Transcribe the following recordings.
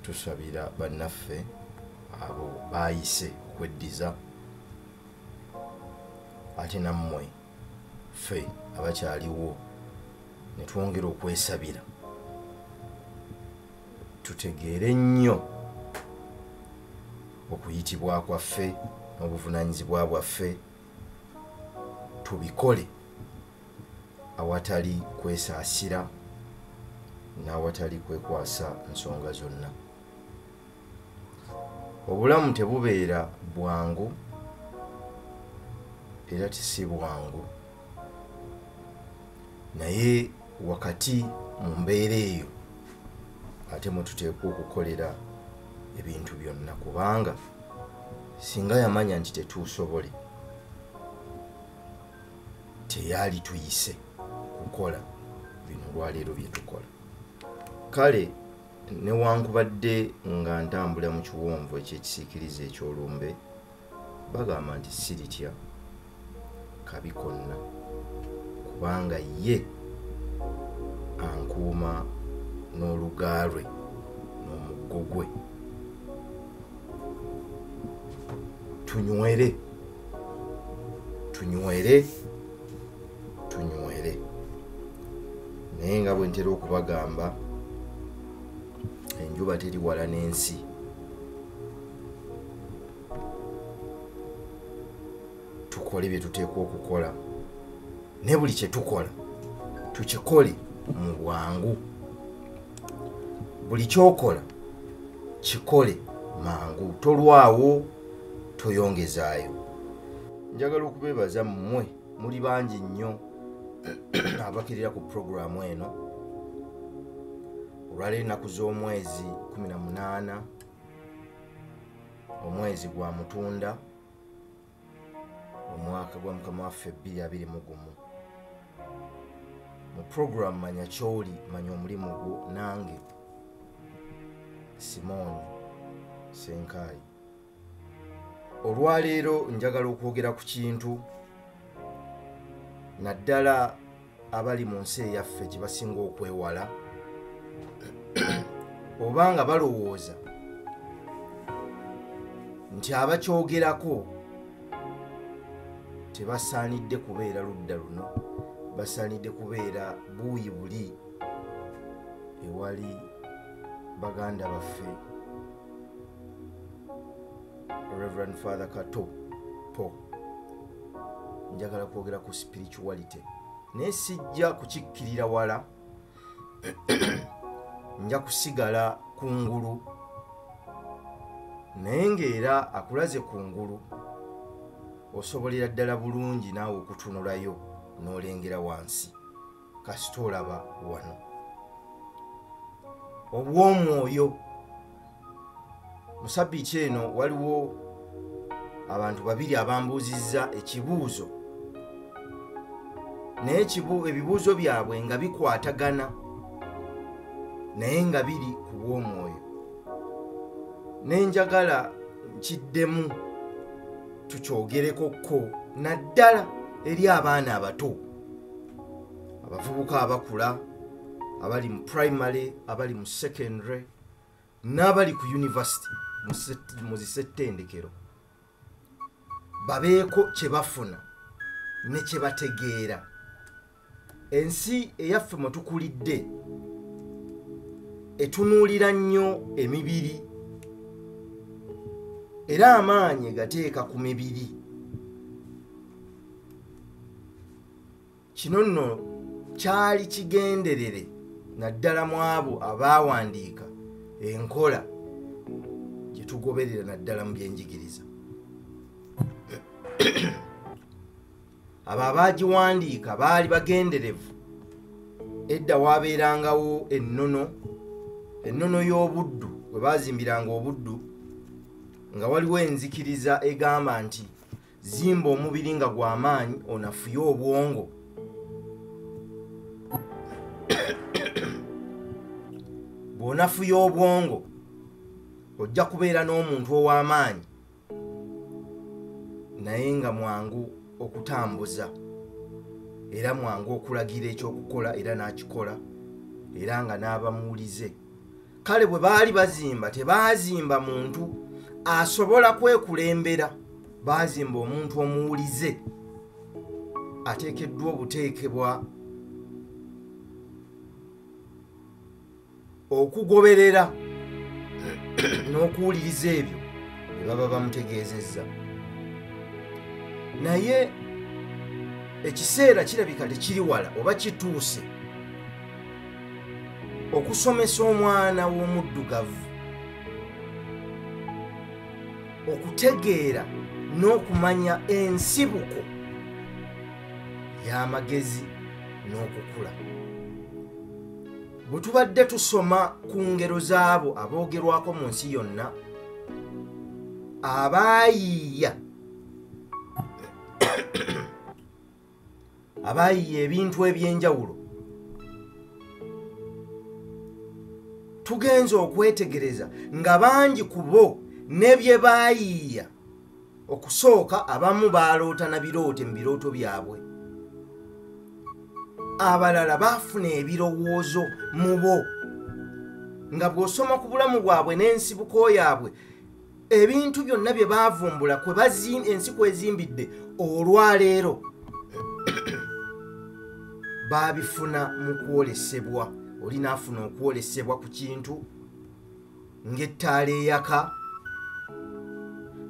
tusabira bannaffe abo baayise okweddiza ate nammwe ffe abakyaliwo ne twongera okwesabira tutegeere nnyo okuyitibwa kwaffe n'obuvunanyizibwa bwaffe tubikole awatali kwesaasira n'awatali kwekwasa nsonga zonna obulamu tebubeera bwangu era tisi bwangu naye wakati mu mbeera eyo ate mwetuteekwa okukolera ebintu byonna kubanga singa yamanya nti tetuusobole teyaali tuyise kukola bino olwaleero byetukola kale newankubadde nga ntambula mu kiwonvu ekyekisiikiriza ekyolumbe bagamba nti siritya kabi konna kubanga ye ankuuma n'oluga lwe n'omuggo gwe tunywere tunywere tunywere naye nga bwe ntera okubagamba enjuba teri wala n'ensi tukole bye tuteekwa okukola naye buli kye tukola tukikole mu bwangu buli kyokola kikole mangu tolwawo toyongezaayo njagala okubeebaza mmwe muli bangi nnyo abakirira ku puroguramu eno olwaleero ennaku z'omwezi 18 omwezi gwa mutunda omwaka gwa mukama waffe 22 mugumu mu programu manya kyoli manya omulimu gwo nange simooni senkaayi olwaleero njagala okwogera ku kintu naddala abali mu nsi eyaffe kye basinga okwewala oba nga balowooza nti abakyogerako tebasaanidde kubeera ludda luno basaanidde kubeera buuyi buli ewali baganda baffe reverend father kato po njagala kwogera ku spirituality naye sijja kukikkirira wala nja kusigala ku ngulu naye ngaera akulaze ku ngulu osobolera ddala bulungi naawe okutunulayo n'olengera wansi kasita olaba wano obwomwoyo musabiiti eno waliwo abantu babiri abambuuzizza ekibuuzo naye ebibuuzo byabwe nga bikwatagana naye nga biri ku bwomwoyo nenjagala nkiddemu tukyogerekokko naddala eri abaana abato abavubuka abakula abali mu primary abali mu secondary n'abali ku university mu zisettendekero babeeko kye bafuna ne kye bategeera ensi eyaffe mwe tukulidde etunuulira nnyo emibiri era amaanyi gateeka ku mibiri kino nno kyali kigenderere naddala mu abo abaawandiika enkola gye tugoberera naddala mu byenjigiriza abo abaagiwandiika baali bagenderevu edda waabeerangawo ennono ennono y'obuddu bwe baazimbiranga obuddu nga waliwo enzikiriza egamba nti zimba omubiri nga gw'amaanyi onafuye obwongo bw'onafuya obwongo ojja kubeera n'omuntu ow'amaanyi naye nga mwangu okutambuza era mwangu okulagira ekyokukola era n'akikola era nga n'abamuwulize kale bwe baali bazimba tebaazimba muntu asobola kwekulembera baazimba omuntu omuwulize ateekeddwa obuteekebwa okugoberera n'okuwuliriza ebyo bye baba bamutegeezezza naye ekiseera kirabika tekiri wala oba kituuse okusomesa omwana w'omuddugavu okutegeera n'okumanya ensibuko y'amagezi n'okukula bwe tubadde tusoma ku ngero z'abo aboogerwako mu nsi yonna abaayiiya abaayiye ebintu eby'enjawulo tugenze okwetegereza nga bangi ku bo ne bye baayiiya okusooka abamu baaloota na biroote mu birooto byabwe abalala baafuna ebirowoozo mu bo nga bw'osoma ku bulamu bwabwe n'ensibuko yaabwe ebintu byonna bye baavumbula ensi kwezimbidde olwaleero baabifuna mu kwolesebwa oli naafuna okwolesebwa ku kintu ng'ettaala eyaka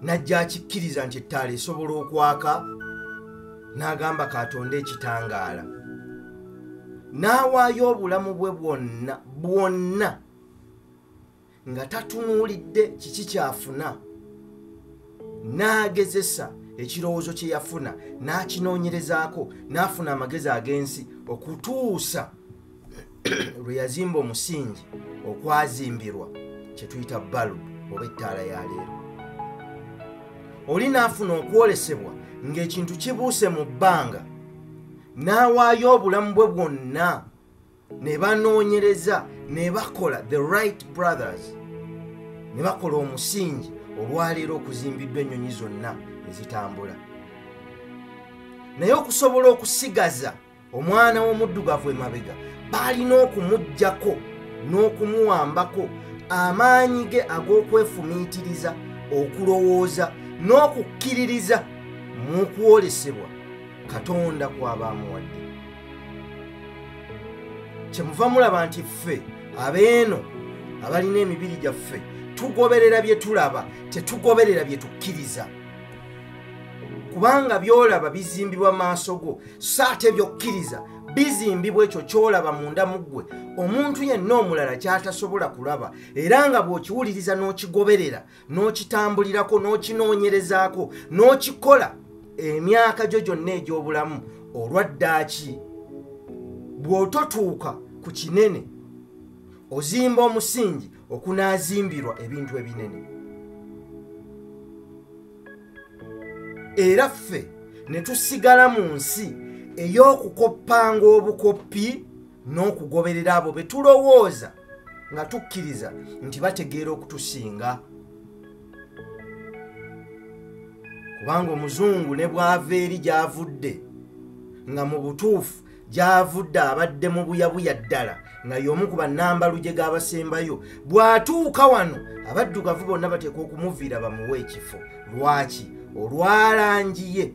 najja akikkiriza nti ettaala esobola okwaka n'agamba katonda ekitangaala n'awaayo obulamu bwe bwonna bwonna nga tatunuulidde kiki kyafuna n'agezesa ekirowoozo kye yafuna n'akinoonyerezaako n'afuna amagezi ag'ensi okutuusa lwe yazimba omusingi okwazimbirwa kye tuyita balubu oba ettaala ya leero oli n'afuna okwolesebwa ng'ekintu kibuuse mu bbanga n'awaayo obulamu bwe bwonna ne banoonyereza ne bakola the right brothers ne bakola omusingi olwaleero okuzimbiddwa ennyonyi zonna ezitambula naye okusobola okusigaza omwana w'omuddugavu emabega baalina okumugjako n'okumuwambako amaanyi ge ag'okwefumiitiriza okulowooza n'okukkiririza mu kwolesebwa katonda kwaba amuwadde kyemuva mulaba nti ffe abeeno abalina emibiri gyaffe tugoberera bye tulaba tetugoberera bye tukkiriza kubanga byolaba bizimbibwa maaso go so ate byokkiriza bizimbibwa ekyo kyolaba munda mu ggwe omuntu yenna omulala kyatasobola kulaba era nga bw'okiwuliriza n'okigoberera n'okitambulirako n'okinoonyerezaako n'okikola emyaka gyo gyonna egy'obulamu olwaddaaki bw'ototuuka ku kinene ozimba omusingi okunaazimbirwa ebintu ebinene era ffe ne tusigala mu nsi ey'okukoppanga obukoppi n'okugoberera abo be tulowooza nga tukkiriza nti bategeera okutusinga kubanga omuzungu ne bwava eri gyavudde nga mu butuufu gyavudde abadde mu buyabuya ddala nga y'omu ku bannambaluje g'abasembayo bw'atuuka wano abaddugavu bonna bateekwa okumuviira bamuwe ekifo lwaki olwalangiye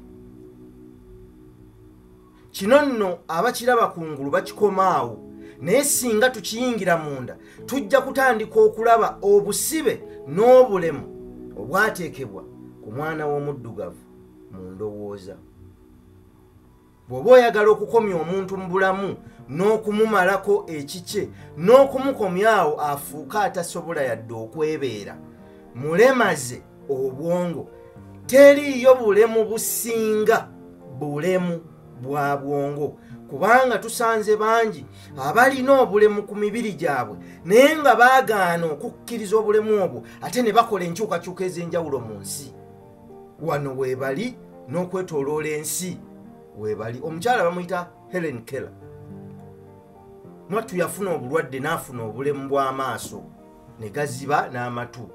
kino nno abakiraba ku ngulu bakikomaawo naye singa tukiyingira munda tujja kutandika okulaba obusibe n'obulemu obwateekebwa ku mwana w'omuddugavu mu ndowooza bw'oba oyagala okukomya omuntu mu bulamu n'okumumalako ekikye n'okumukomyawo afuuke atasobola yadde okwebeera mulemaze obwongo teriiyo bulemu businga bulemu bwa bwongo kubanga tusanze bangi abalina obulemu ku mibiri gyabwe naye nga baagaana okukkiriza obulemu obwo ate ne bakola enkyukakyuka ez'enjawulo mu nsi wano weebali n'okwetoloola ensi weebali omukyala bamuyita helen keller mwattu yafuna obulwadde n'afuna obulemu bw'amaaso ne gaziba n'amatu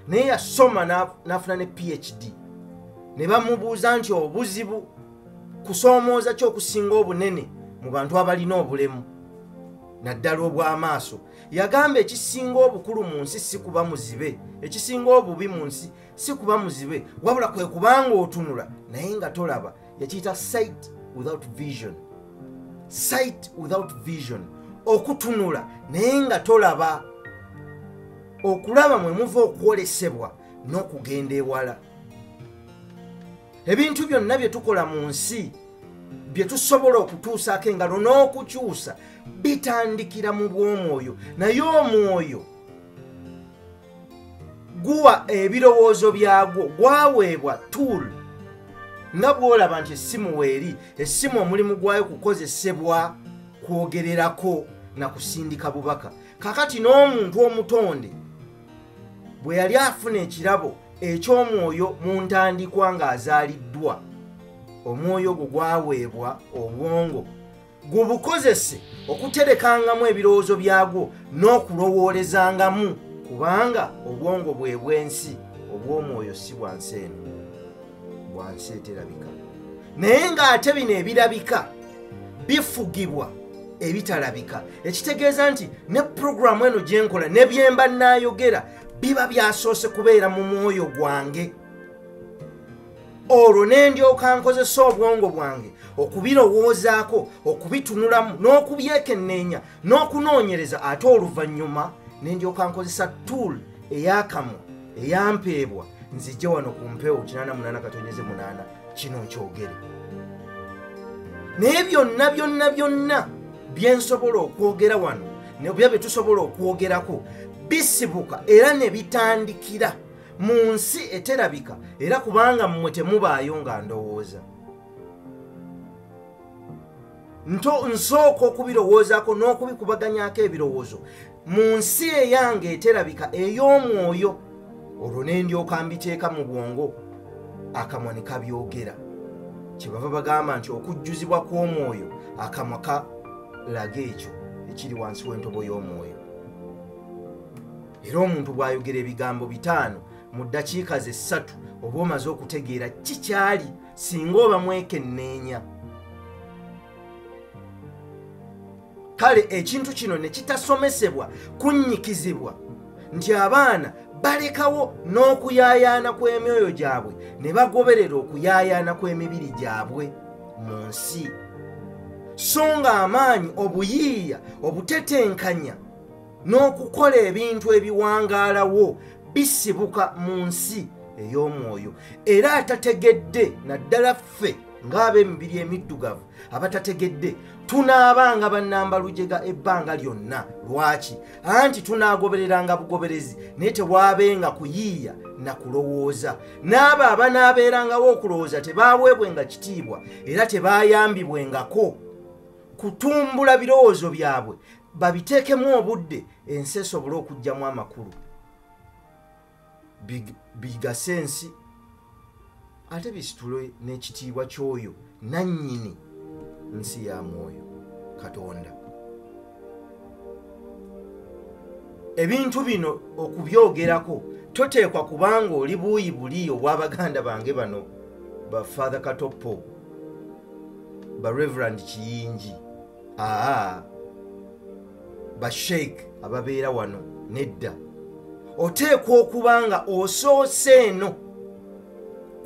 naye yasoma n'afuna ne phd ne bamubuuza nti obuzibu kusoomooza ki okusinga obunene mu bantu abalina obulemu naddala obw'amaaso yagamba ekisinga obukulu mu nsi si kuba muzibe ekisinga obubi mu nsi si kuba muzibe wabula kwe kubanga otunula naye nga tolaba yakiyita sight without vision sight without vision okutunula naye nga tolaba okulaba mwe muva okwolesebwa n'okugenda ewala ebintu byonna bye tukola mu nsi bye tusobola okutuusaako engalo n'okukyusa bitandikira mu bw'omwoyo naye omwoyo guwa ebirowoozo byagwo gwaweebwa tool nga bwolaba nti essimu weeri essimu omulimu gwayo kukozesebwa kwogererako na kusindika bubaka kakati n'omuntu omutonde bwe yali afuna ekirabo eky'omwoyo mu ntandikwa ng'azaaliddwa omwoyo ogwo gwaweebwa obwongo gubukozese okuterekangamu ebirowoozo byagwo n'okulowoolezangamu kubanga obwongo bwe bw'ensi obw'omwoyo si bwa nsi eno bwa nsi eterabika naye ng'ate bino ebirabika bifugibwa ebitalabika ekitegeeza nti ne puroguramu eno gye nkola ne byemba nnaayogera biba byasoose kubeera mu mwoyo gwange olwo ne ndyoka nkozesa obwongo bwange okubirowoozaako okubitunulamu n'okubyekenneenya n'okunoonyereza ate oluvannyuma ne ndyoka nkozesa tuul eyakamu eyampeebwa nzijje wano ku mpewo 88 katonyeze 8 kino nkyogere naye byonna byonna byonna byensobola okwogera wano nebya byetusobola okwogerako bisibuka era ne bitandikira mu nsi eterabika era kubanga mmwe temubaayo nga ndowooza nto nsooka okubirowoozaako n'okubikubaganyako ebirowoozo mu nsi eyange eterabika ey'omwoyo olwo ne ndyoka mbiteeka mu bwongo akamwa ne kabyogera kyebava bagamba nti okujjuzibwa kw'omwoyo akamwa kalaga ekyo ekiri wansi w'entobo y'omwoyo era omuntu bw'ayogera ebigambo bitaano mu ddakiika ze ssatu oba omaze okutegeera kikyali singa oba mwekenneenya kale ekintu kino ne kitasomesebwa kunnyikizibwa nti abaana balekawo n'okuyaayaana kw'emyoyo gyabwe ne bagoberera okuyaayaana kw'emibiri gyabwe mu nsi so ng'amaanyi obuyiiya obutetenkanya n'okukola ebintu ebiwangaalawo bisibuka mu nsi ey'omwoyo era atategedde naddala ffe ng'ab'emibiri emiddugavu abatategedde tunaabanga bannamba lujega ebbanga lyonna lwaki anti tunaagobereranga bugoberezi naye tewaabenga kuyiiya na kulowooza n'abo abanaabeerangawo okulowooza tebaaweebwenga kitiibwa era tebaayambibwengako kutumbula birowoozo byabwe babiteekemu obudde ensi esobole okugyamu amakulu bigase ensi ate bisitule n'ekitiibwa ky'oyo nannyini nsi ya mwoyo katonda ebintu bino okubyogerako toteekwa kubanga oli buuyi buli obw'abaganda bange bano ba father katoppo ba reverand kiyingi aa basheik ababeera wano nedda oteekwa okuba nga osoose eno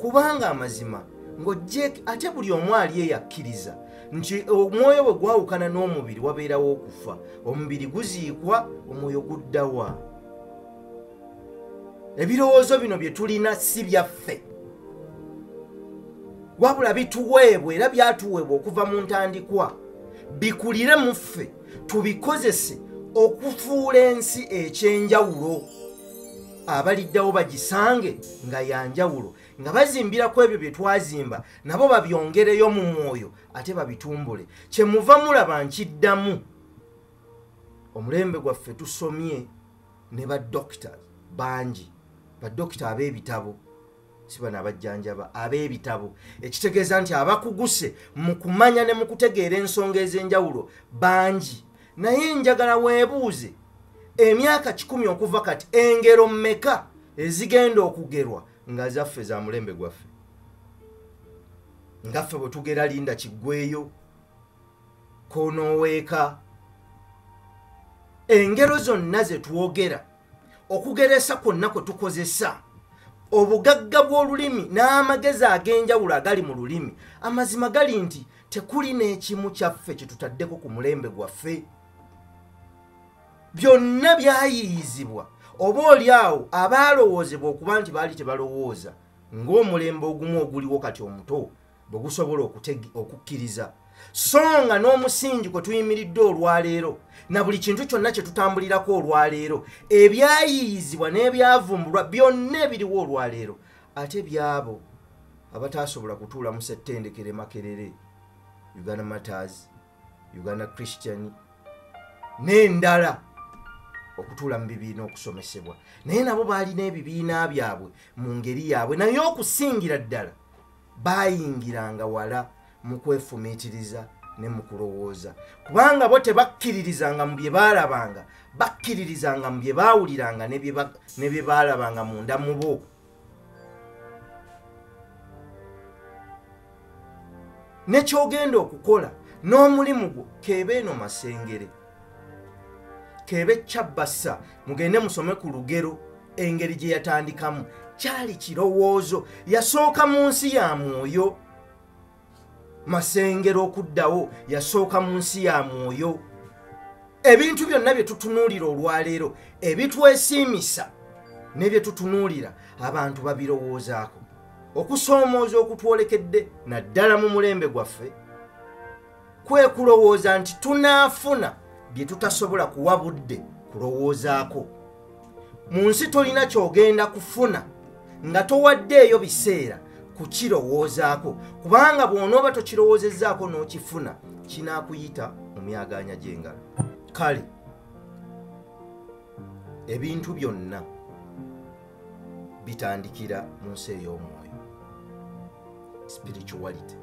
kubanga amazima ng'ojje ate buli omu ali eyakkiriza nti omwoyo bwe gwawukana n'omubiri wabeerawo okufa omubiri guziikwa omwoyo guddawa ebirowoozo bino bye tulina si byaffe wabula bituweebwa era byatuweebwa okuva mu ntandikwa bikulire mu ffe tubikozese okufuula ensi ekyenjawulo abaliddawo bagisange nga yanjawulo nga bazimbira ku ebyo bye twazimba nabo babyongereyo mu mwoyo ate babitumbule kyemuva mulaba nkiddamu omulembe gwaffe tusomye ne ba doctors bangi ba doctor ab'ebitabo si bano abajjanjaba ab'ebitabo ekitegeeza nti abakuguse mu kumanya ne mu kutegeera ensonga ez'enjawulo bangi naye njagala weebuuze emyaka kikumi okuva kati engero mmeka ezigenda okugerwa nga zaffe za mulembe gwaffe ngaffe bwe tugera linda kiggweyo konoweeka engero zonna ze twogera okugeresa kwonna kwe tukozesa obugagga bw'olulimi n'amagezi ag'enjawulo agali mu lulimi amazima gali nti tekuli n'ekimu kyaffe kye tutaddeko ku mulembe gwaffe byonna byayiiyizibwa oba oli awo abaalowoozebwa okuba nti baali tebalowooza ng'omulembe ogumu oguliwo kati omuto bwe gusobola okukkiriza so nga n'omusingi kwe tuyimiridde olwaleero na buli kintu kyonna kye tutambulirako olwaleero ebyayiiyizibwa n'ebyavumbulwa byonna ebiriwo olwaleero ate byabo abataasobola kutuula mu settendekere makerere uganda matters uganda christian n'endala okutuula mu bibiina okusomesebwa naye nabo baalina ebibiina byabwe mu ngeri yaabwe naye okusingira ddala baayingiranga wala mu kwefumiitiriza ne mu kulowooza kubanga bo tebakkiririzanga mu bye baalabanga bakkiririzanga mu bye baawuliranga ne bye baalabanga munda mu bo nekyogenda okukola n'omulimu gwo keeba eno masengere kebe kyabassa mugende musome ku lugero engeri gye yatandikamu kyali kirowoozo yasooka mu nsi ya mwoyo masengero okuddawo yasooka mu nsi ya mwoyo ebintu byonna bye tutunuulira olwaleero ebitwesiimisa ne bye tutunuulira abantu babirowoozaako okusoomooza okutwolekedde naddala mu mulembe gwaffe kwe kulowooza nti tunaafuna bye tutasobola kuwa budde kulowoozaako mu nsi tolina kyogenda kufuna nga towaddeeyo biseera kukirowoozaako kubanga bw'onooba tokirowoozezzaako n'okifuna kinaakuyita mu myagaanya gy'engalo kale ebintu byonna bitandikira mu nsi ey'omwoyo spirituality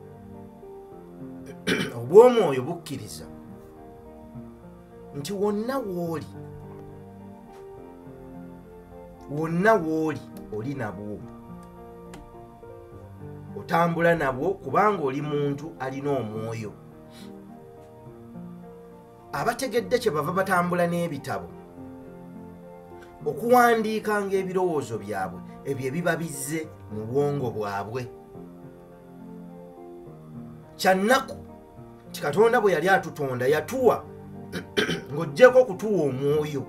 obw'omwoyo bukkiriza nti wonna wooli wonna wooli oli nabwo otambula nabwo kubanga oli muntu alina omwoyo abategedde kye bava batambula n'ebitabo okuwandiikanga ebirowoozo byabwe ebyo ebiba bizze mu bwongo bwabwe kyannaku nti katonda bwe yali atutonda yatuwa ng'oggyeko okutuwa omwoyo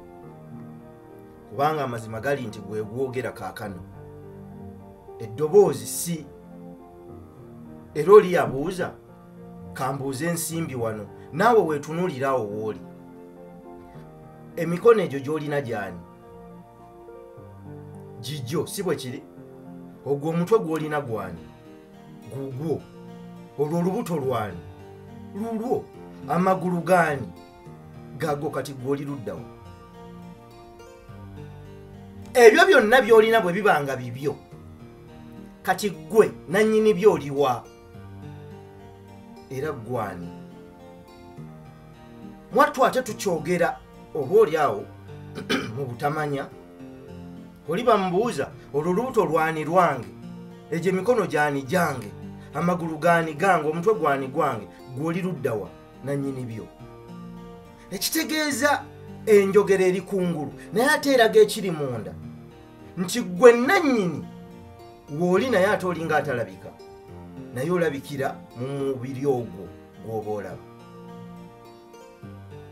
kubanga amazima gali nti gwe gwogera kaakano eddoboozi si era oli yabuuza kambuuze ensimbi wano naawe weetunuuliraawo wooli emikono egyo gy'olina gyani gigyo si bwe kiri ogwo omutwe gw'olina gwani gugwo olwo olubuto lwani lulwo amagulu gaani gago kati gwoli luddawo ebyo byonna byolina bwe biba nga bibyo kati ggwe nannyini byoliwa era gwani mwattu ate tukyogera oba oli awo mu butamanya oli bamubuuza olwo lubuto lwani lwange egyo emikono gyani gyange amagulu gani gange omutwe gwani gwange gwoli luddawa nanyini byo ekitegeeza enjogera eri kungulu naye ate eraga ekiri munda nti gwe nannyini wooli naye ate olinga atalabika naye olabikira mu mubiri ogwo gwoba olaba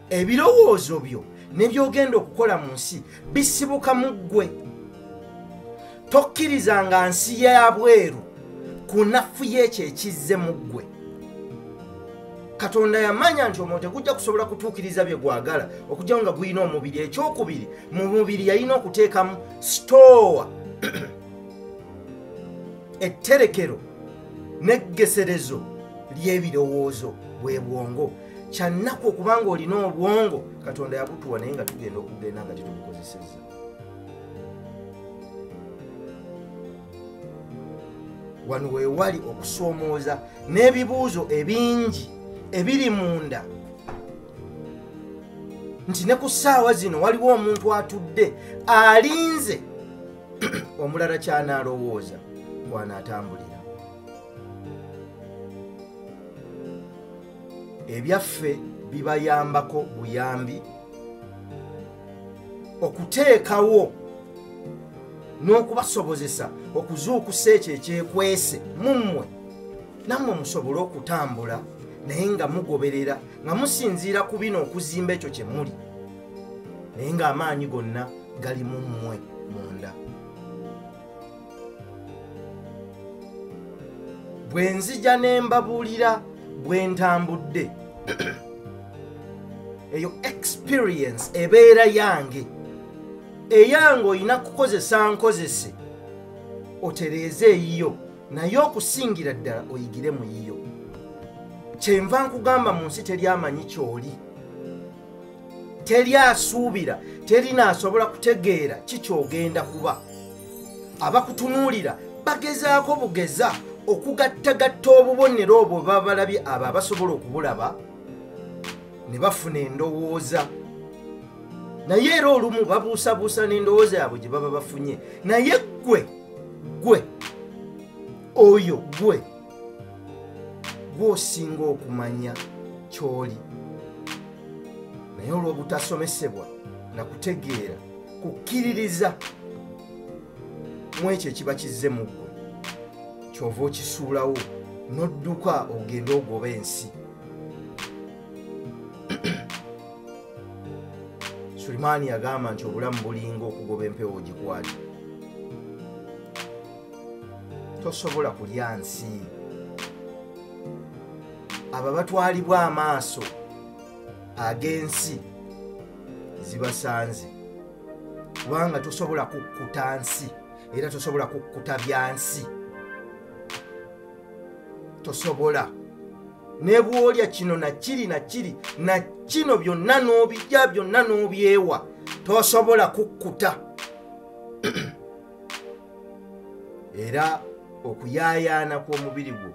ebirowoozo byo nebyogenda okukola mu nsi bisibuka mu ggwe tokkiriza nga nsi yabweru ku nafu yekyo ekizze mu ggwe katonda yamanya nti omwoyo tegujja kusobola kutuukiriza bye gwagala okugyawo nga gulina omubiri ekyokubiri mu mubiri yalina okuteekamu sitoowa etterekero n'eggeserezo ly'ebirowoozo bwe bwongo kyannaku okuba nga olina obwongo katonda yabutuwa naye nga tugenda okugenda nga tetubukozesezza wano wewali okusoomooza n'ebibuuzo ebingi ebiri munda nti ne ku ssaawa zino waliwo omuntu atudde alinze omulala kyanaalowooza kwanaatambulira ebyaffe bibayambako buyambi okuteekawo n'okubasobozesa okuzuukusa ekyo ekyekwese mu mmwe nammwe musobole okutambula naye nga mugoberera nga musinziira ku bino okuzimba ekyo kye muli naye ng'amaanyi gonna gali mu mmwe munda bwe nzija ne mbabuulira bwe ntambudde eyo experience ebeera yange eyange olina kukozesa nkozese otereeze eyiyo naye okusingira ddala oyigire mu yiyo kyenva nkugamba mu nsi teri amanyi kyoli teri asuubira teri naasobola kutegeera kikyogenda kuba abakutunuulira bagezaako bugeza okugattagatta obubonero obwo babalabye abo abasobola okubulaba ne bafuna endowooza naye era olumu babuusabuusa n'endowooza yaabwe gye baba bafunye naye ggwe ggwe oyo ggwe gwosinga okumanya kyoli naye olw'obutasomesebwa na kutegeera kukkiririza mu ekyo ekiba kizze mu ggwe kyova okisuulawo n'odduka ogende ogoba ensi sulimaani yagamba nti obulamu bulinga okugoba empewo gikwati tosobola kulya nsi abo abatwalibwa amaaso ag'ensi zibasanze kubanga tosobola kukkuta nsi era tosobola kukkuta byansi tosobola ne bwolya kino nakiri nakiri na kino byonna n'obijja byonna n'obyewa tosobola kukkuta era okuyaayaana kw'omubiri gwo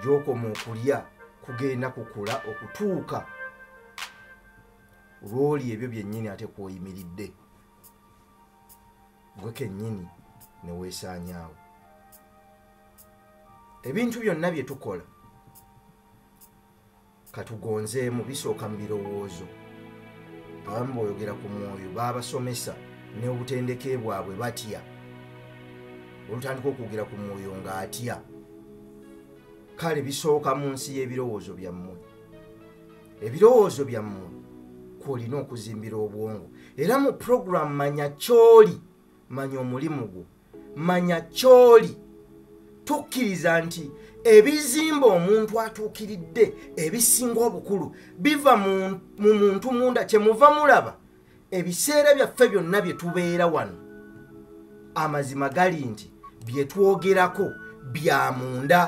gyokoma okulya kugenda kukula okutuuka lwoli ebyo byennyini ate kwoyimiridde gwe kennyini neweesaanyaawo ebintu byonna bye tukola katugonzeemu bisooka mu birowoozo abamu boyogera ku mwoyo babasomesa n'obutendeke bwabwe batya olutandika okwogera ku mwoyo ng'atya kale bisooka mu nsi y'ebirowoozo byammwe ebirowoozo byammwe kwolina okuzimbira obwongo era mu puroguramu manya kyoli manya omulimu gwo manya kyoli tukkiriza nti ebizimba omuntu atuukiridde ebisinga obukulu biva mu muntu munda kyemuva mulaba ebiseera byaffe byonna bye tubeera wano amazima gali nti bye twogerako bya munda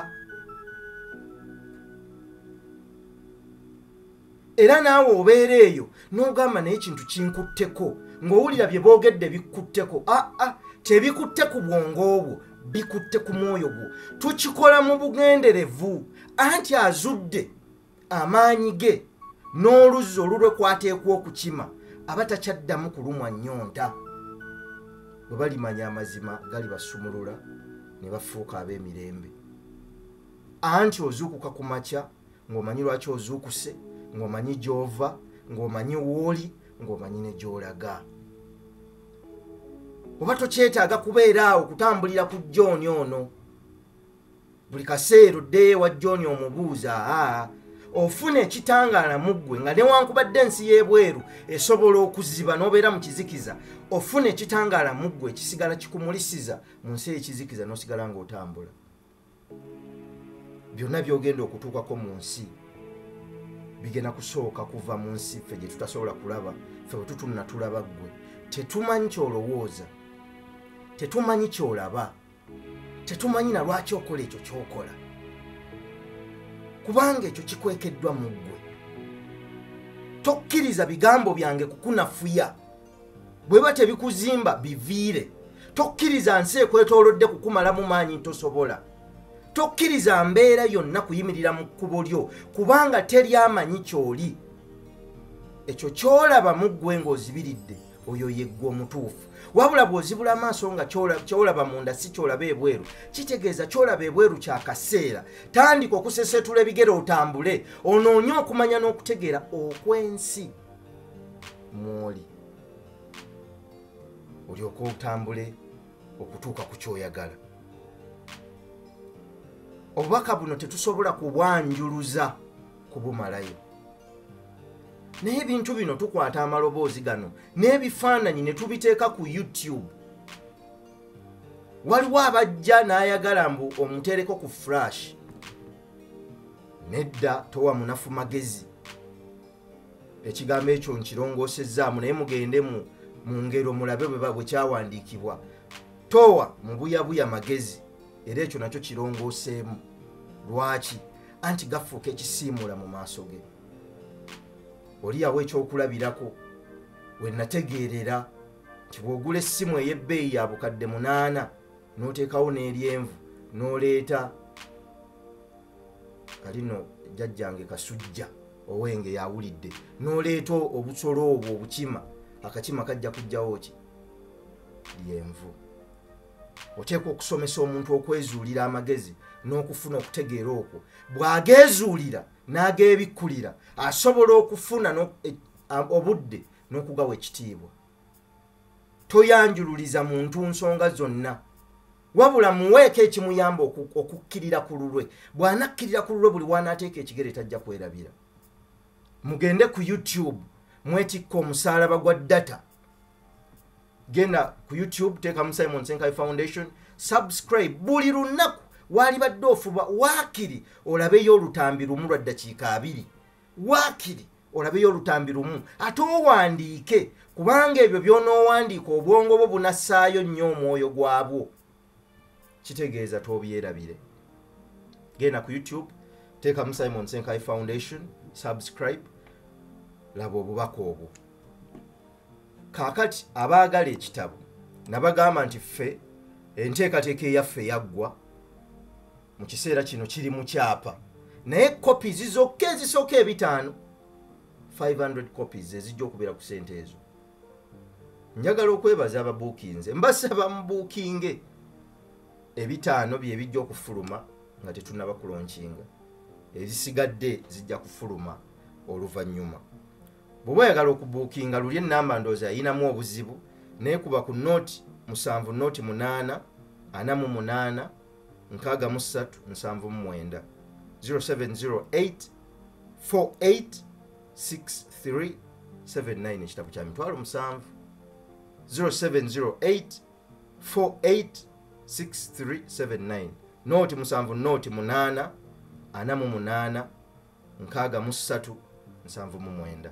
era naawe obeera eyo n'ogamba naye ekintu kinkutteko ng'owulira bye boogedde bikkutteko aa ah, ah, tebikutte ku bwongo obwo bikutte ku mwoyo gwo tukikola mu bugenderevu anti azudde amaanyi ge n'oluzzi olulwe kwateekwa okukima aba takyaddamu kulumwa nnyonta bwe balimanya amazima galibasumulula ne bafuuka ab'emirembe anti ozuukuka ku makya ng'omanyi lwaki ozuukuse ng'omanyi gy'ova ng'omanyi wooli ng'omanyi ne gy'olaga oba tokyetaaga kubeera awo kutambulira ku johni ono buli kaseera oddeyo ewa johni omubuuza aa ofuna ekitangaala mu ggwe nga newankubadde ensi y'ebweru esobola okuziba n'obeera mu kizikiza ofuna ekitangaala mu ggwe ekisigala kikumulisiza mu nsi eyekizikiza n'osigala ng'otambula byonna byogenda okutuukako mu nsi bigenda kusooka kuva mu nsi ffe gye tutasobola kulaba ffe bwe tutunna tulaba ggwe tetumanyi kyolowooza tetumanyi kyolaba tetumanyi na lwaki okola ekyo kyokola kubanga ekyo kikwekeddwa mu ggwe tokkiriza bigambo byange kukunafuya bweba tebikuzimba biviire tokkiriza nsi ekwetolodde kukumalamu maanyi ntosobola tokkiriza mbeera yonna kuyimirira mu kkubo lyo kubanga teri amanyi kyoli ekyo kyolaba muggwe ng'ozibiridde oyo yeggwe omutuufu wabula bw'ozibula amaaso nga kyolaba munda si kyolaba ebweru kitegeeza kyolaba ebweru kya kaseera tandika okusesetula ebigere otambule onoonye okumanya n'okutegeera okw'ensi mwoli olyoka otambule okutuuka ku kyoyagala obubaka buno tetusobola kubwanjuluza kubumalayo naye ebintu bino tukwata amaloboozi gano n'ebifaananyi ne tubiteeka ku youtube waliwo abajja n'ayagala mbu omuteereko ku flash nedda towa munafu magezi ekigambo ekyo nkirongosezzaamu naye mugende mu ngero mulabe bwe kyawandiikibwa towa mubuyabuya magezi era ekyo nakyo kirongoseemu lwaki anti gafuuka ekisiimuula mu maaso ge oliyawo ekyokulabirako wenategeerera nti bwogula essimu ey'ebbeeyi ya bukadde munaana n'oteekawo n'eryenvu n'oleeta alino jjajjange kasujja owenge yawulidde noleeta obusolo obwo obukima akakima kajja kujjawo ki lyenvu oteekwa okusomesa omuntu okwezuulira amagezi n'okufuna okutegeera okwo bw'ageezuulira n'ageebikkulira asobola okufuna e, obudde n'okugawa ekitiibwa toyanjululiza muntu nsonga zonna wabula muweeko ekimuyamba okukkirira ku lulwe bw'anakkirira ku lulwe buli waanaateeka ekigere tajja kwerabira mugende ku youtube mwetikka omusaalaba gwa data genda ku youtube teekamu simon senkai foundation subscribe buli lunaku waalibadde ofuba waakiri olabeyo olutambi lumu lwa ddakiika abiri waakiri olabeyo olutambi lumu ate owandiike kubanga ebyo by'onoowandiika obwongo bwo bunassaayo nnyo omwoyo gwabwo kitegeeza toobyerabire genda ku youtube teekamu simon senkai foundation subscribe laba obubaka obwo kaakati abaagala ekitabo nabagamba nti ffe enteekateeka eyaffe yaggwa mu kiseera kino kiri mu kyapa naye copies zokka ezisooka ebitaano 500 copies ezijja okubeera ku sente ezo njagala okwebaza ababuukinze mbasaba mubuukinge ebitaano byebijja okufuluma nga tetunaba kulonkinga ezisigadde zijja kufuluma oluvannyuma bweoba oyagala okubuukinga luli enamba ndoozi ayinamu obuzibu naye kuba ku noti musanvu noti munaana ana mu munaana nkaaga mu ssatu nsanvu mu mwenda 0708 486379 ekitabo kya mitwalo musanvu 0708 486379 nooti musanvu nooti munaana ana mu munaana nkaaga mu ssatu nsanvu mu mwenda